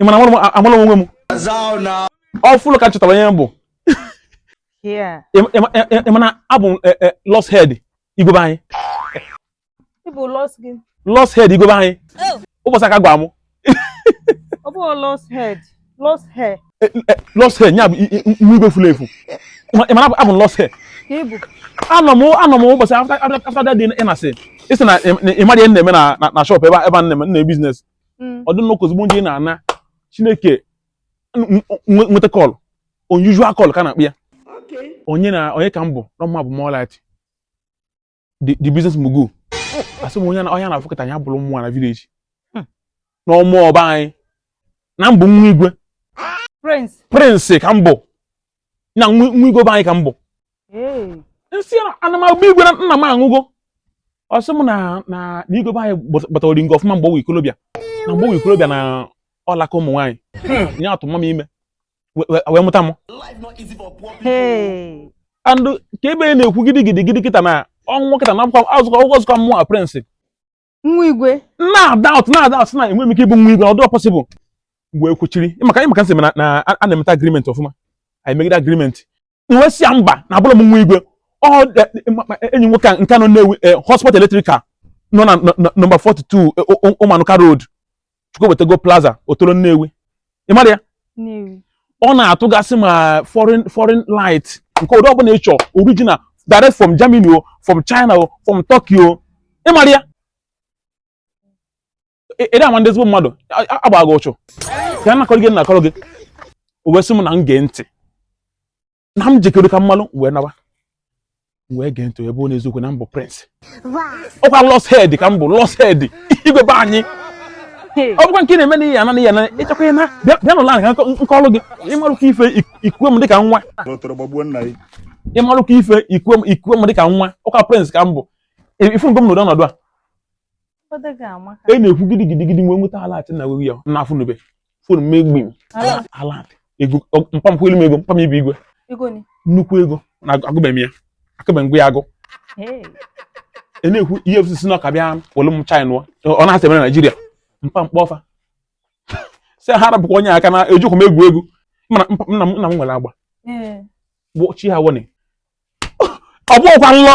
ị ma na amarọ m onwe m ọfụlụ ka m chọtara onye m bụ ị ma na abụ m e, e, lost head igwe be anyị lost head igwe be anyị oh. ụbọchị a ka gwa mụ ọ bụ lost head lost heir eh, eh, eh, lost heir nya bụ nwa igwe furu efu ị mara abụ lost heir anọ m anọ m ụbọchị after that day ị na-asị ịsị na ị mara ihe na-eme na shop ebe a na-eme business mm. ọ dị nnọọ ka ozugbo m ji na-ana chineke nweta call unusual call ka a na-akpọ ya onye na onye ka m bụ na m abụ Morelight the business mogul asị m onye na ọhịa na-afụkọta ya bụrụ mụwa na village hmm. n'ọmụ ọba anyị na m bụ nwa igwe prince ka m bụ na nwa igwe be anyị ka m bụ m sị a na m abụ igwe na nna m anwụgo ọ sị m na na igwe be anyị gbatara oringo ọfụma mgbe ọ wụ ikolobịa na mgbe ọ wụ ikolobịa na ọ laka ụmụ nwaanyị hmm. nya atụ mama m ime wee mụta m and ka ebe na-ekwu gidi gidi gidi kịta na ọnwụ kịta na azụkọ mụ prince nwa igwe na-adoubt na-adoubt na enwe m ike ịbụ nwa igwe ọ dụ possible mgbe e kwuchiri ị maka m sị na a na-emeta agreement ọfụma anyị megide agreement m wee sị ya mba na abụrọ m nwa igwe enyi nwoke a nke nọ na-ewu eh, Hotspot electrical nọ na nọmba 42 Umuanuka eh, road Chukwuebutego Plaza Otolo Nnewi ị mara ya Nnewi. ọ na-atụgasị ma foreign foreign light nke ụdị ọbụla ị chọọ original direct from Germany o from China o from Turkey o ị mara ya Ị- ị na-ama ndị ezigbo mmadụ a- a- agbaghị ụchụ ka a na-akọrọ gị na-akọrọ gị o wee sị m na m gee ntị na m jekere ka m malụ wee nawa wee gee ntị ebe ọ na eziokwu na m bụ prince ọkwa lost head ka m bụ lost head igwe be anyị ọ bụkwa nke na-eme na ihe ana ihe na ịchekwa na bịa n'ụlọ anyị ka m kọọrụ gị ị marụkwa ife i kuwe m dịka nwa ị marụkwa ife i kuwe m dịka nwa ọkwa prince ka m bụ ị fụgo m n'ụdị ọnọdụ a e na-ekwu gidi gidi gidi m wee nweta alert na wego ya na afụnube phone m egbi m alert ego mpa m kwelu m ego mpa m ibe igwe nnukwu ego na agụbeghị m ya akabeghị m gụwa ya agụ e na-ekwu ihe EFCC na ọka bịa welu m china ọ na-asị mere naijiria mpa m kpọọ fa sị ha rapụkwa onye aka na ejikwa m egwu egwu nna m nwere agba chi ha wone ọ bụghịkwa nlọ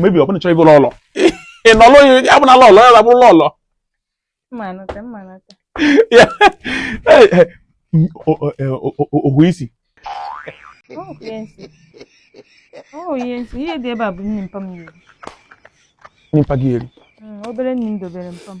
maybe ọ bụ na ị chọrọ ịbụrụ lọlọ ị nọlụ ọ bụ na lọlọ ya abụrụ lọlọ ohu isi ihe dị ebe a bụ nni mpa m nyere nni mpa gị eri obere nni m dobere mpa m